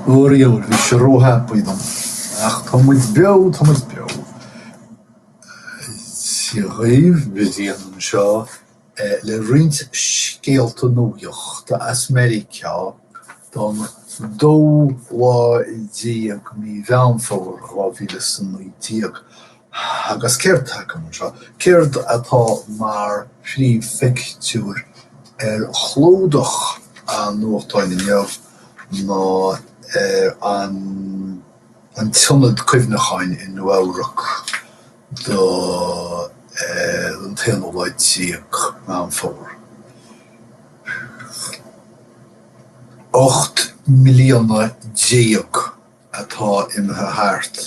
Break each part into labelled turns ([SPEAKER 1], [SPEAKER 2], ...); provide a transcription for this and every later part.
[SPEAKER 1] Ó, bhí sé róthapaidh dom, ach tá muid beo, tá muid beo. Dia dhaoibh, Brian anseo le roinnt scéalta nuachta as Meiriceá don 12ú lá de mhí Mheán Fómhair 2019. Agus céard atá agam anseo? Céard atá mar phríomhphictiúr ar chlúdach an nuachtáin inniu ná an t-ionad cuimhneacháin i Nua-Eabhrac do an t-aonú lá déag Meán Fómhair. Ocht mbliana déag. atá imithe thart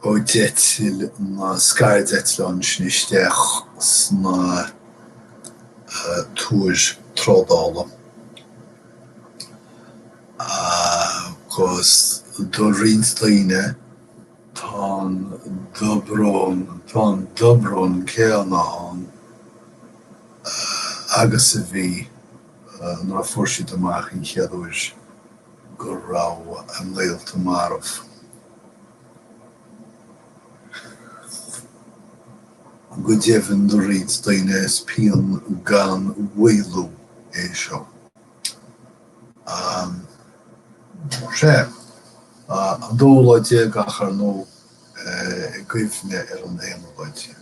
[SPEAKER 1] ó d'eitil na scairdeitleáin sin isteach sna túir trádála agus do roinnt daoine tá an dobrón, tá an dobrón céanna ann agus a bhí nuair a fuair siad amach an chéad uair. go raibh a ngaolta marbh. Go deimhin do roinnt daoine is pian gan mhaolú é seo. Is é an dóú lá déag ach, ar ndóigh, i gcuimhne ar an aonú lá déag.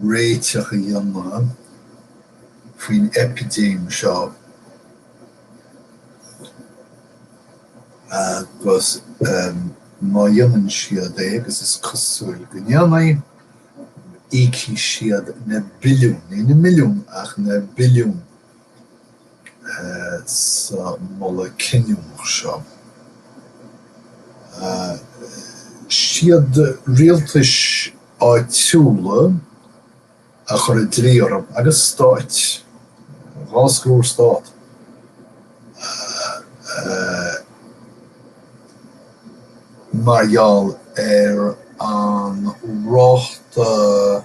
[SPEAKER 1] réiteach a dhéanamh faoin eipidéim seo agus má dhéanann siad é, agus is cosúil go ndéanfaidh, íocfaidh siad na billiúin, ní na milliúin ach na billiúin sa moladh cinniúnach seo. Is iad rialtais áitiúla a chuir an dlí orthu, agus stáit, dhá scór stát, mar gheall ar an ráta,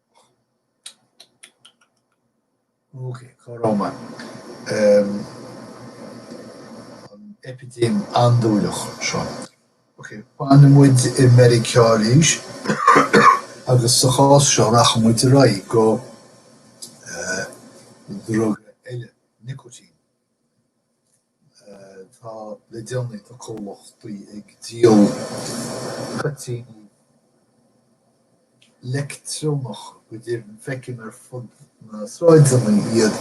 [SPEAKER 1] Ok, comhrá maith. An eipidéim andúileach seo. Ok, fanfaidh muid i Meiriceá arís agus sa chás seo rachaidh muid ar aghaidh go druga eile, nicotine. Tá le déanaí tá comhlachtaí ag díol toitíní leictreonacha, go deimhin feicim ar fud na sráideanna iad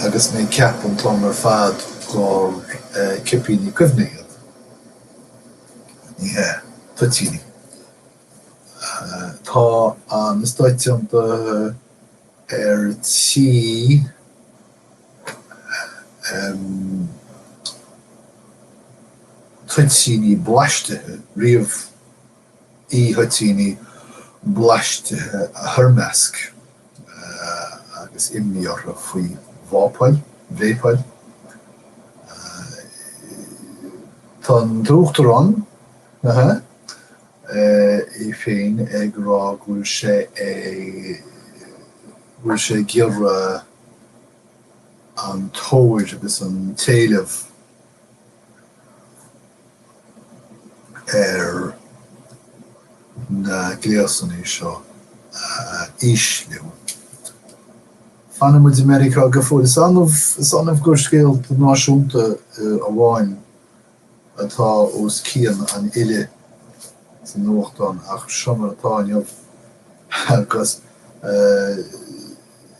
[SPEAKER 1] agus mé ag ceapadh an t-am ar fad gur cipíní cuimhne iad, ní hea, toitíní. Tá na Stáit Aontaithe ar tí. em toitíní blaistithe riamh, e-thoitíní blaistithe a thoirmeasc agus imní orthu faoi vapáil, vapáil. Tá an tUachtarán é féin ag rá go bhfuil sé ag, go bhfuil sé ag iarraidh. an tóir agus an t-éileamh ar na gléasanna seo a ísliú. Fanann muid i Meiriceá go fóill. Is annamh gur scéalta náisiúnta amháin atá os cionn an fhillte sa nuachtán ach seo mar atá inniu agus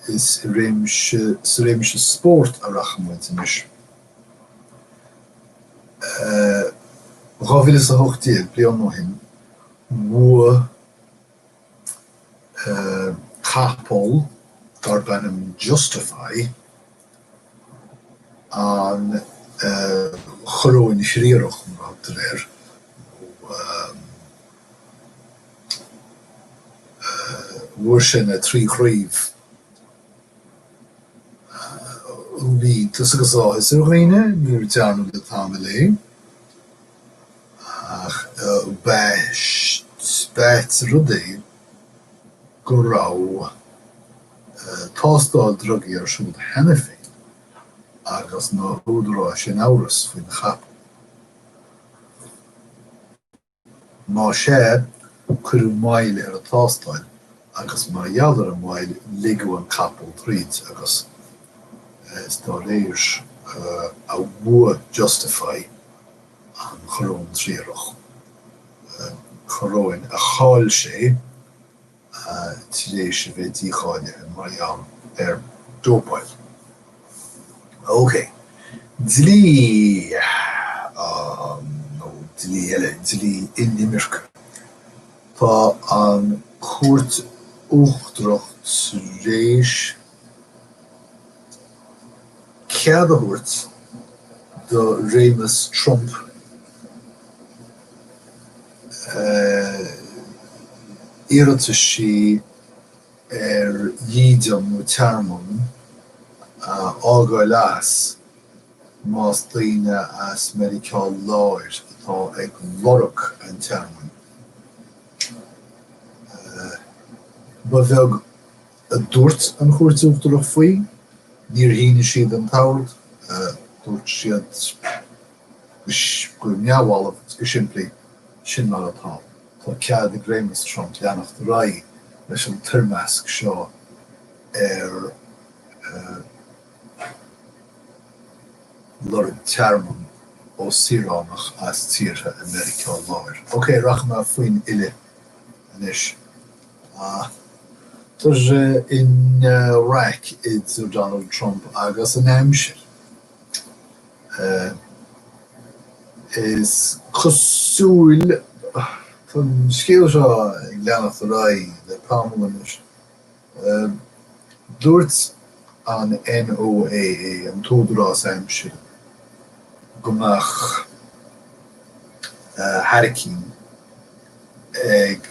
[SPEAKER 1] is i réimse sa réimse spóirt a rachaidh muid anois. Dhá mhíle is a hocht déag bliain ó shin bhuaigh capall darb ainm Justify, an Choróin Thriarach, mar a thugtar air, nó bhuaigh sé na trí chraobh a bhí iontas agus áthas ar dhaoine nó ní dhearnadh le tamall é, ach b'ait rud é go raibh. tástáil drugaí ar siúl cheana féin agus na húdaráis in amhras faoin chapall. Má sea, cuireadh moill ar an tástáil agus mar gheall ar an mhoill ligeadh an capall tríd agus is dá réir a bhuaigh Justify an Choróin Thriarach, coróin a chaill sé. tar éis a bheith dícháilithe mar gheall ar dhópáil. OK. Dlí an, nó dlí eile, dlí inimirce. Tá an Chúirt Uachtarach tar éis. cead a thabhairt do réimeas Trump iarrataisí ar dhídean nó tearmann a fhágáil as más daoine as Meiriceá Láir atá ag lorg an tearmainn. Ba bheag a dúirt an Chúirt Uachtarach faoi, níor shínigh siad an t-ord, dúirt siad go neamhbhalbh agus go simplí, sin mar atá, tá cead ag Réimeas Trump leanacht ar aghaidh leis an toirmeasc seo ar lorg tearmainn ó saoránach as tíortha i Meiriceá Láir. OK, rachaidh mé faoin uile anois. Tá sé ina raic idir Donald Trump agus an aimsir. Is cosúil tá an scéal seo ag leanacht ar aghaidh le tamall anois. Dúirt an NOAA, an tÚdarás Aimsire, go mbeadh hairicín. ag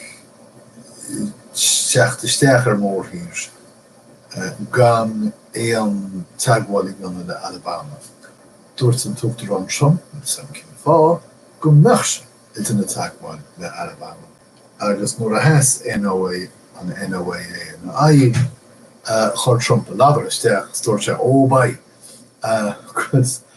[SPEAKER 1] teacht isteach ar mhórthír is gan aon teagmháil a dhéanamh le Alabama. Dúirt an tUachtarán Trump, níl a fhios agam cén fáth, go mbeadh sé ag déanamh teagmháil le Alabama agus nuair a sheas NOAA an NOAA ina aghaidh, chuir Trump a ladar isteach is dúirt sé, Ó, beidh, agus.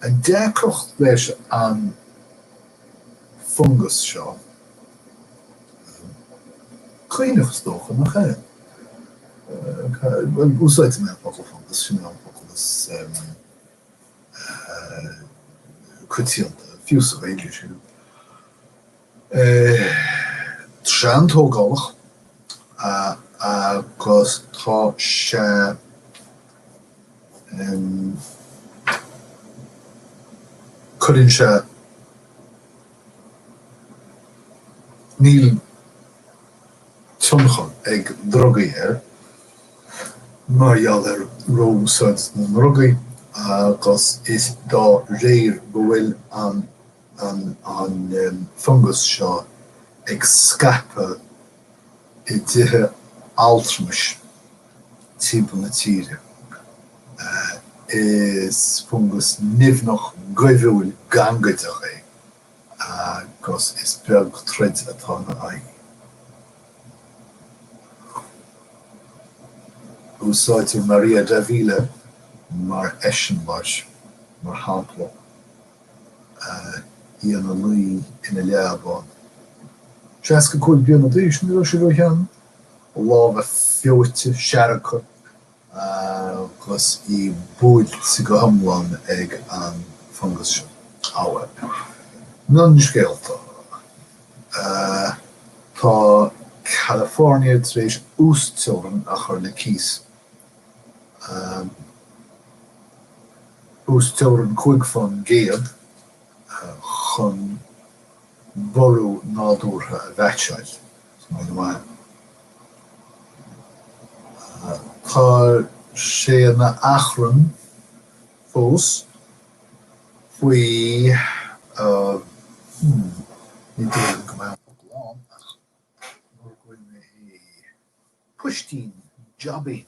[SPEAKER 1] An deacracht leis an bhfungas seo, caonach is dócha, nach ea? Bhuel, úsáidfidh mé an focal fungas, sin é an focal is coitianta, fiú sa Ghaeilge, sílim. atá an-tógálach agus tá sé cuireann sé níl tionchar ag drugaí air mar gheall ar ró-úsáid na ndrugaí agus is dá réir go bhfuil an an fungas seo ag scaipeadh i dtithe altramais timpeall na tíre. Is fungas nimhneach goimhiúil gangaideach é agus is beag troid atá ina aghaidh. Úsáidtear Maria Davila mar eiseamláir, mar shampla. í ina luí ina leaba, 65 bliain d'aois, ní raibh sí róshean, a lámha feoite, seargtha agus í buailte go hiomlán ag an bhfungas seo. Ábhar. Mionscéalta. Tá California tar éis uasteorainn a chur le cíos. uasteorainn cúig faoin gcéad chun borradh nádúrtha a mheaitseáil. Tá sé ina achrann fós faoi Ní dóigh liom go mbeadh an focal ann ach mura bhfuil mé i. Poistín, jaibín.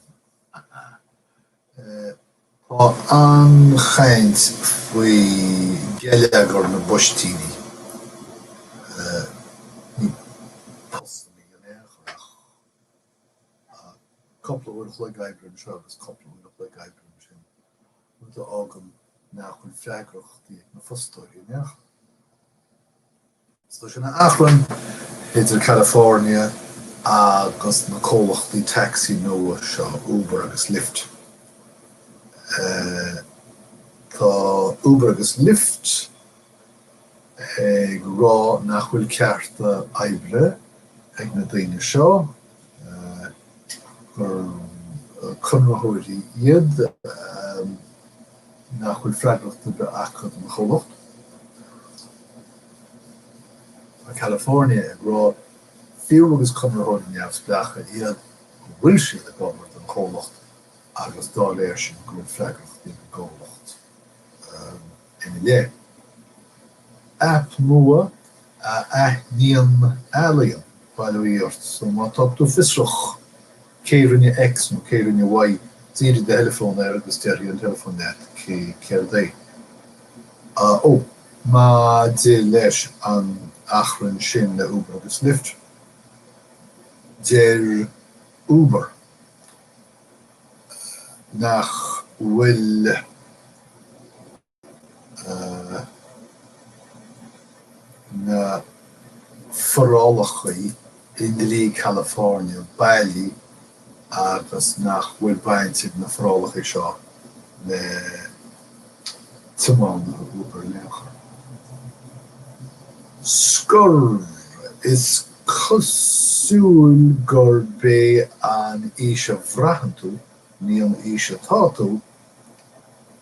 [SPEAKER 1] Tá an-chaint faoi gheilleagar na bpoistíní. Ní postanna iad in aon chor ach cúpla uair a chloig oibre anseo agus cúpla uair a chloig oibre ansin, rud a fhágann nach bhfuil freagrachtaí ag na fostóirí in aon chor. So tá sé ina achrann idir California agus na comhlachtaí taxi nua seo, Uber agus Lyft. Tá Uber agus Lyft ag rá nach bhfuil cearta oibre ag na daoine seo, gur conraitheoirí iad, nach bhfuil freagracht ar bith acu don chomhlacht. Tá California ag rá, fiú más conraitheoirí neamhspleácha iad, go bhfuil siad ag obair don chomhlacht agus dá réir sin go bhfuil freagracht ag an gcomhlacht ina leith. Aip nua a aithníonn ealaín, ballaí art, so má tá tú fiosrach cé rinne X nó cé rinne Y, dírigh do theileafón air agus déarfaidh an teileafón leat céard é. Ó. Maidir leis an achrann sin le Uber agus Lyft, deir Uber nach bhfuil. na forálacha i ndlí California bailí agus nach bhfuil baint ag na forálacha seo le tiománaithe Uber in aon chor. Scor, is cosúil gurb é an aois a bhraitheann tú, ní an aois atá tú,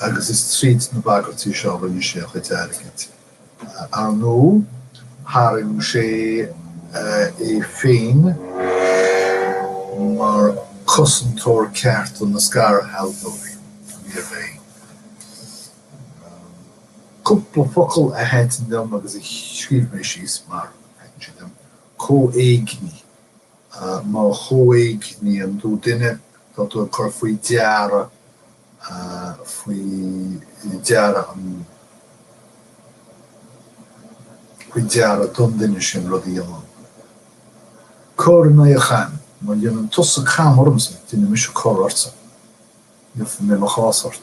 [SPEAKER 1] agus is tríd na bagairtí seo a rinne sé a chuid airgid. Ar ndóigh, tharraing sé é féin mar chosantóir cearta na scairshealbhóirí. Níorbh aon cúpla focal a thaitin liom agus a scríobh mé síos mar a thaitin sé liom, comhéignigh. Má chomhéigníonn tú duine tá tú ag cur faoi deara, faoi deara an, faoi deara don duine sin rud a dhéanamh, cor in aghaidh an chaim. Má dhéanann tusa cam ormsa, déanfaidh mise cor ortsa. Iarrfaidh mé mo chás ort.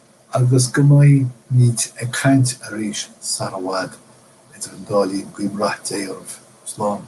[SPEAKER 1] agus go mbeimid ag caint arís sar i bhfad idir an dá linn, guím rath Dé oraibh. Slán.